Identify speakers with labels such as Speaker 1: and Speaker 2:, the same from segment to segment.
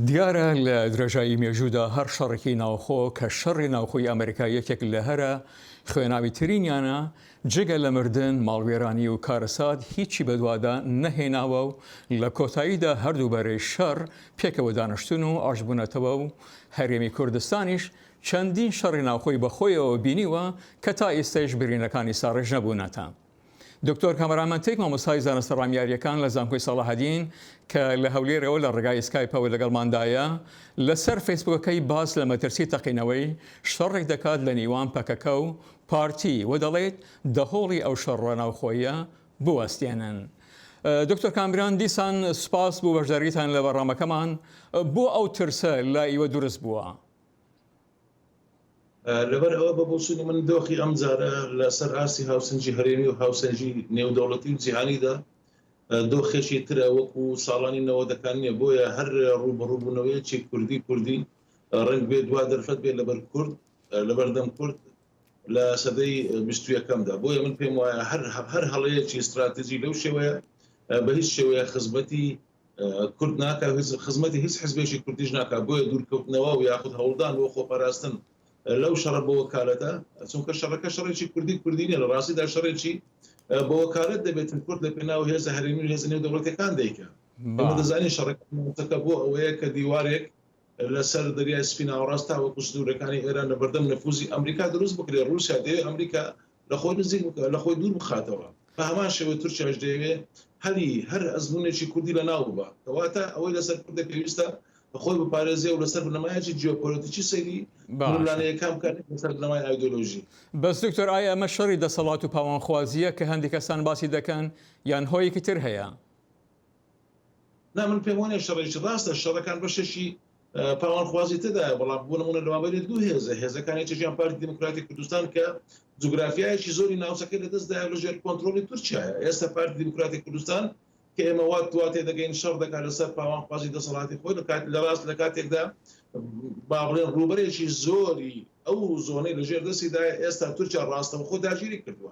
Speaker 1: دیارە لە درێژایی مێژوودا هەر شەڕێکی ناوخۆ کە شەڕی ناوخۆی ئەمریکا یەکێک لە هەرە خوێناوی ترینیانە جگە لە مردن، ماڵوێرانی و کارەسات هیچی بەدوادا نەهێناوە و لە کۆتاییدا هەردوو بەرەی شەڕ پێکەوە دانشتوون و ئاشتبوونەتەوە و هەرێمی کوردستانیش چەندین شەڕی ناوخۆی بەخۆیەوە بینیوە کە تا ئیستەیش برینەکانی ساڕێژ نەبوونەتە دکتۆر کامەران مەنتیک مامۆستای زانستە ڕامیارییەکان لە زانکۆی ساڵەحەدین کە لە هەولێرەوە لە ڕێگای سکایپەوە لەگەڵماندایە لەسەر فەیسبوکەکەی باس لە مەترسی تەقینەوەی شەڕێک دەکات لە نیوان پەکەکە و پارتی و دەڵیت دەهۆڵی ئەو شەڕە ناوخۆییە بوەستێنن دکتۆر کامران دیسان سپاس بۆ بەشداریتان لە بەڕامەکەمان بۆ ئەو ترسە لە ئیوە دورست بووە؟
Speaker 2: لەبەر ئەوە بە بۆچوونی من دۆخی ئەم جارە لەسەر ئاستی هاوسنجی هەرێمی و هاوسەنجی نێودەوڵەتی و جیهانیدا دۆخێکی ترە وەکو ساڵانی نەوەدەکان نیە بۆیە هەر ڕوبڕوبوونەوەیەکی کوردی کوردی ڕنگ بێ دوا دەرفەت بێت لەبەر کورد لەبەردەم کورد لە سەدەی بیستویەکەمدا بۆیە من پێم وایە هەر هەر هەڵەیەکی استراتیژی لەو شێوەیە بە هیچ شێوەیە خزمەتی کورد ناکا خزمەتی هیچ حزبێکی کوردیش ناکا بۆیە دوورکەوتنەوە و یاخود هەوڵدان بۆ خۆپاراستن لەو شەڕە بۆ وەکالەتە چونکە شەڕەکە شەڕێکی کوردی کوردی نیە لە ڕاستیدا شەڕێکی بۆ وەکالەت دەبێتن کورد لە پێناو هێزە هەرێمی و هێزە نێو دەوڵەتەکان دەیکە دەزانین شەڕەکە بۆ ئەوەیە کە دیوارێک لەسەر دەریای سپی ناوەڕاست تاوەکو سنوورەکانی ئێران لە بەردەم نفوزی ئەمریکا دروست بکرێ رووسیا دەیە ئەمریکا لە خۆی نزیک لە خۆی دوور بخاتەوە، بە هەمان شێوەی تورکیاش دەیەوێ هەلی هەر ئەزموونێکی کوردی لە ناو ببا، کەواتە ئەوەی لە سەر کوردە پێویستە خۆی بپارێزێ و لە سەر بنەمایەکی جیۆپۆلەتیکی سەیری ململانێیەکان بکا نەک لە سەر بنەمای ئایدۆلۆژی. بەس دکتۆر ئایا
Speaker 1: ئەمە شەڕی دەسەڵات و پاوانخوازییە کە هەندێ کەسان باسی دەکەن یان هۆیەکی تر هەیە؟
Speaker 2: نا من پێم وانیە شەڕێکی ڕاستە، شەڕەکان بەشێکی پاوانخوازی تێدایە، بەڵام بۆ نموونە لەوابەری دوو هێزە، هێزەکانی چەکیان پارتی دیموکراتی کوردستان کە جوگرافیایەکی زۆری ناوچەکەی لەدەستدایە لەژێر کۆنترۆڵی تورکیایە، ئێستا پارتی دیموکراتی کوردستان کە ئێمە وا وا تێدەگەین شەڕ دەکات لەسەر پاوانخوازی دەسەڵاتی خۆی لە کات لە ڕاست لە کاتێکدا با بڵێن ڕووبەرێکی زۆری ئەو زۆنەی لەژێر دەستیدایە ئێستا تورکیا ڕاستەوخۆ داگیری کردووە.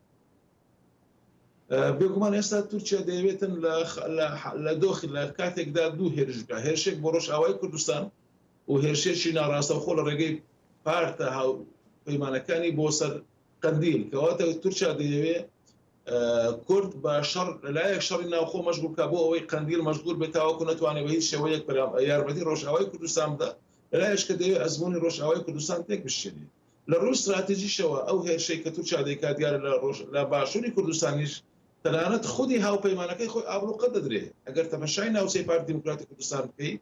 Speaker 2: بێگومان ئێستا تورکیا دەیەوێتن لە دۆخی لە کاتێکدا دوو هێرشگا هێرشێک بۆ ڕۆژئاوای کوردستان و هێرشێکی ناڕاستەخۆ لە ڕێگەی پارتە هاو پەیمانەکانی بۆ سەر قندیل کەواتە تورکیا دەیەوێ کورد بە شەڕ لەلایەک شەڕی ناوخۆ مەشغولکە بۆ ئەوەی قندیل مەشغول بێت تاوەکو نتوانێت بە هیچ شێوەیەک یارمەتی ڕۆژئاوای کوردستان بدە لەلایش کە دەوێت ئەزمموی ڕۆژئاوای کوردستان تێک بشێنێت لە ڕووی ستراتیجیشەوە ئەو هێرشەی کە تورکیا دەیکات دیارە لە ڕۆژ لە باشووری کوردستانیش تەنانەت خودی هاوپەیمانەکەی خۆی ئابڵوقە دەدرێ ئەگەر تەمەشای ناوچەی پارتی دیموکراتی کوردستان بکەی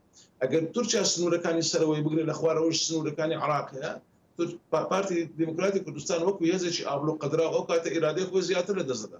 Speaker 2: ئەگەر تورکیا سنوورەکانی سەرەوەی بگرێ لە خوارەوەش سنوورەکانی عێراق هەیە تورک پارتی دیموکراتی کوردستان وەکو هێزێکی ئابڵوقەدراو ئەو کاتە ئیرادەی خۆی زیاتر لە دەست دەدا.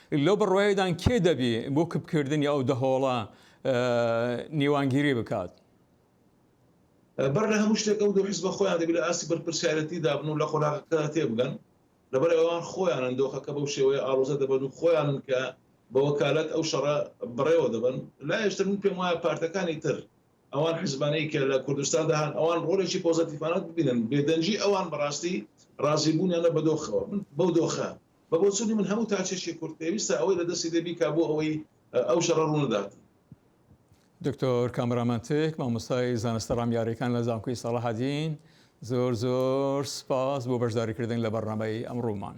Speaker 1: لەو بڕوایەدان کێ دەبی بۆ کپکردنی ئەو دەهۆڵە نیوانگیری بکات؟
Speaker 2: بەر لە هەموو شتێک ئەو دوو حزبە خۆیان دەبی لە ئاستی بەرپرسیارێتی دابن و لە قۆناغەکە تێبگەن، لەبەر ئەوان خۆیانن دۆخەکە بەو شێوەیە ئاڵۆزە دەبەن و خۆیانن کە بە وەکالەت ئەو شەڕە بەڕێوە دەبەن. لایشتر من پێم وایە پارتەکانی تر، ئەوان حزبانەی کە لە کوردستاندا هەن، ئەوان ڕۆلێکی پۆزەتیفانە ببینن، بێدەنگی ئەوان بەڕاستی ڕازیبوونیانە بە دۆخەوە. من بەو دۆخە. بە بۆچوونی من هەموو تاکێکی کورد پێویستە ئەوەی لە دەستی دێ بیکا بۆ ئەوەی ئەو شەڕە ڕوو ندات.
Speaker 1: دکتۆر کامەرامان تک مامۆستای زانستە ڕامیاریەکان لە زانکۆی ساڵەحەدین زۆر زۆر سپاس بۆ بەشداریکردن لە بەرنامەی ئەمڕۆمان.